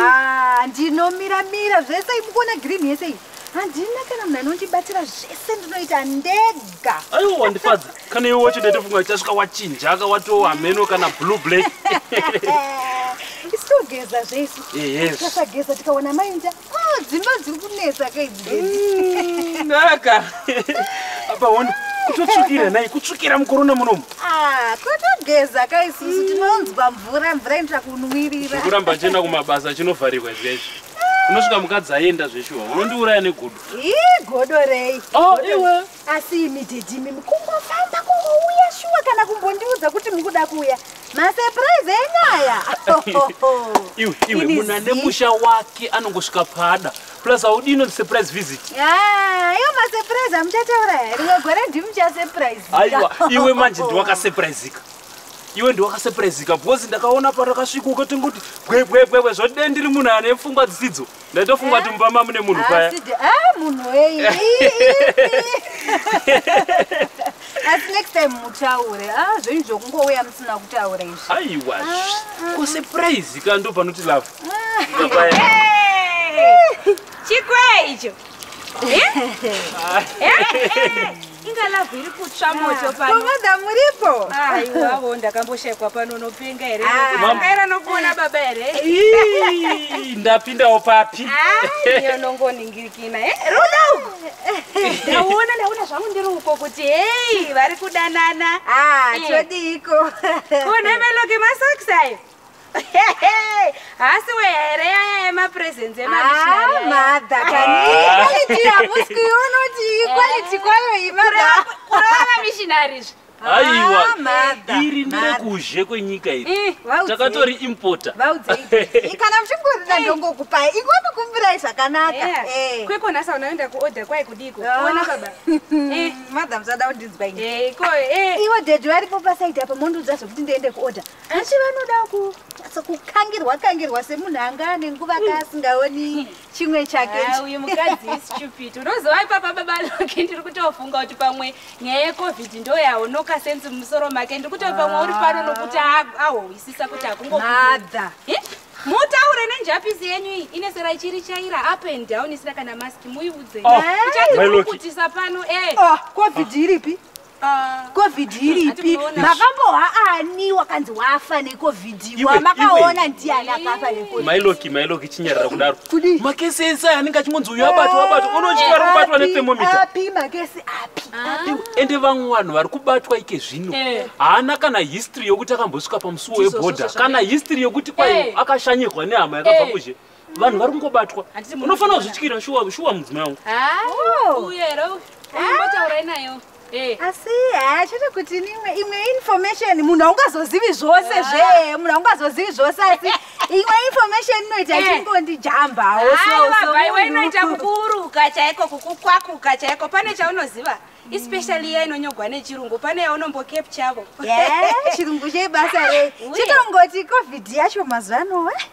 Ah, ndinomira mira zvese mukuona green yese iyi handina kana munhu anondibatira zvese ndinoita ndega aiwa wandifadza kana iwe wacho ndaitofunga uchasvika wachinjaka watova hameno kana blue black isitogeza zvesu tikasageza tikaona mainda ah, dzimba dziri kunetsa kaidzidaka mm, apa hona kutotsvukira nai kutsvukira mukorona munomu Ah, kotogeza ka isusu tinonzwa mvura mvura inoita kunwirira kuramba ndichienda kumabasa chinovharirwa izvi izvi unosvika mukadzi aenda zveshuwa unondiuraya negudo ii godo rei Oh, iwe. asi imi dedimi kungofamba kungouya shuwa kana kumbondiudza kuti mukuda kuuya masepuraizi enyaya iwe iwe Ini munhu ane zii. musha wake anongosvika pada plus haudi inonzi surprise visit Ah, iyo masurprise amuchataura here rimwe gore ndimuchasurprise aiwa iwe manje ndiwakasurprisika iwe ndiwakasurprisika because ndakaona parakasvika ukatongoti bwebwebwebwe zvoti dai ndiri munhu ane pfungwa dzisidzo ndaitofunga kuti mumba mamune munhu paya Asi de- ah, munhu weyi asi next time mutaure ah, zvenyu zvokungouya musina kutaura izvi aiwa ko surprise ka ndo panoti love chikwee icho inga lavhu iri kutsva moto panoda muripo aiwavo ndakamboshaikwa pano unopenga here aera nokuona baba here ndapindawo papi yonongoningirikina rudo ndauona ndaona zvangu ndiri uko kuti hei vari kudanana todiiko kunemeloke masakisa ayo haasi wehere yaya yemapresence emadha kaniamuski unoti iquality kwayo imadhakurava mishinari zve aiwa ah, iri nderekuzhe kwenyika iri eh, takatori importa kana muchingorida ndongokupai ikopi kumbirai zvakanaka eh. kwekona sa unaenda kuorder kwai kudiko ah. ona baba eh. madam zada kundinzwa iwe dedi varipo pasaidi apa mondiudza zvekuti ndiende kuorder Asi vanoda ku kukangirwa kangirwa semunhu anga ane nguva ka asingaoni chimwe chake ah, uyu mukadzi istupid unozova ipapa baba loke ndiri kutofunga kuti pamwe nyaya yecovid ndo yaonoka sensi mumusoro make ndiri kutoti pamwe uri pano nokuti ah. ahohwisisa kuti akungoadha mutaure nenjapisi yenyu iyi ine sera ichiri chaira up and down isina kana mask muiudze oh. eh? ichatiukutisa pano e eh. ah, covid iripi Ah. covid iripi makamboha ani wakanzi wafa necovid wamakaona ndiani akafa nemailoki mailoki chinyarira kudaro kudi makesi ese anenge achingonzi uyo abatwa eh, abatwa unochitara kubatwa nethermometapi makesi api ah. ende vamwe vanhu vari kubatwa ike zvino eh. haana kana history yokuti akambosvika pamusuwo weboda kana history yokuti kwai eh. akashanyirwa nehama yakabva kuzhe vanhu vari kungobatwa unofanira kuzvityira shuwa shuwa mudzimai wangu oh. uye here umbotaurai nayo eh. asi haa eh, chete kuti nimwe imwe information munhu aungazozivi zvose ah. zvee munhu aungazozivi zvose asi imwe information inoita eh. chingondijambawo sosoaiwa inoita kukuuruka chaiko kukukwakuka chaiko pane chaunoziva especially iya inonyogwa nechirungu pane yaunombo capchavo chirungu chebasa rei chitongoti covid yacho mazuva anowe eh?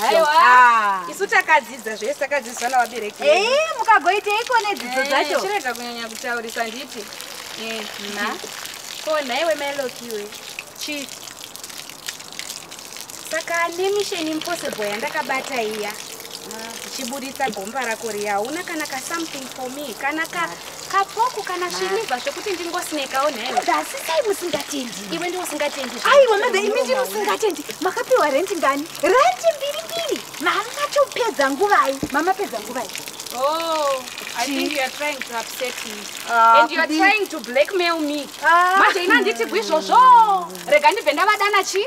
Haiwa. Ah. Isu takadzidza zvese takadzidziswa navabereki. vedu. Eh, mukagoiteiko nedzidzo Eh, dzacho? Chirega kunyanya kutaurisa nditi. Eh, na. Ko nhaiwe Meloki iwe. Chi. Saka nemission impossible yandakabata iya. Chiburitsa gomba rako riya hauna kana ka something for me kana ka kapoku kana svinibva zvekuti ndingosinekawo nhaimi dasisai musingatendi iwe ndi usingatendi aiwa mada imi ndiri usingatendi makapiwa rendi ngani rendi mbiri mbiri mama chopedza nguvai mama pedza nguvai Oh, I think you are trying to upset me. Uh, and you are trying to blackmail me. Ah. Manje ina nditi gwizvozvo. Rega ndibve ndavadana chi?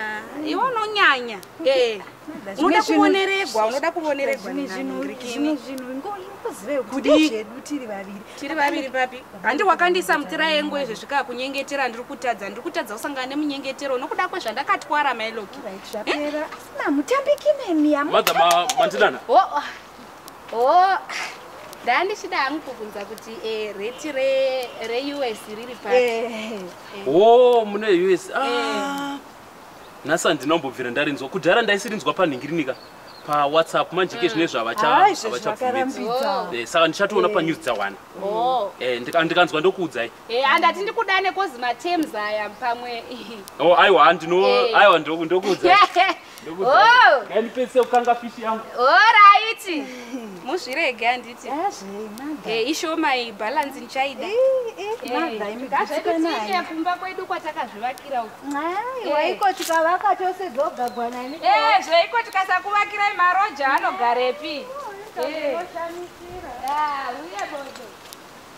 Ah, iwe unonyanya eh, unoda kuoneregwa unoda kuoneregwa tiri vaviri papi handi wakandiisa mutira yengu izvi zvikaa kunyengetera ndiri kutadza ndiri kutadza kusangana nemunyengetero nokuda kwezvandakatwara mailoki eh? Oh, ndaa ndichida hangu kubvunza kuti eh, reti re, reus riri pati Eh, eh. wo mune us Ah. nhasi handinombobvira ndarinzwa kudhara ndaisirinzwa panhingirinika pawhatsapp manje ke zvine hawa izvezvi zvavachabvumidza vakarambidza. Eh, saka ndichatoona panews dzawana Oh, Eh, ndika- ndikanzwa ndokuudzai Eh, andati ndikudane kozi matems aya pamwe oh aiwa handino eh. aiwa ndokuudza oh. ndipedzise kukanga fishi yangu oraiti muzvirege handiti eh, ishoma iyi bhalansi ndichaida ngazvaititiye kumba kwedu kwatakazvivakira ukoiko tikavaka tose dzogagwa nani zveiko tikasakuvakirai maroja anogarepi uye bodo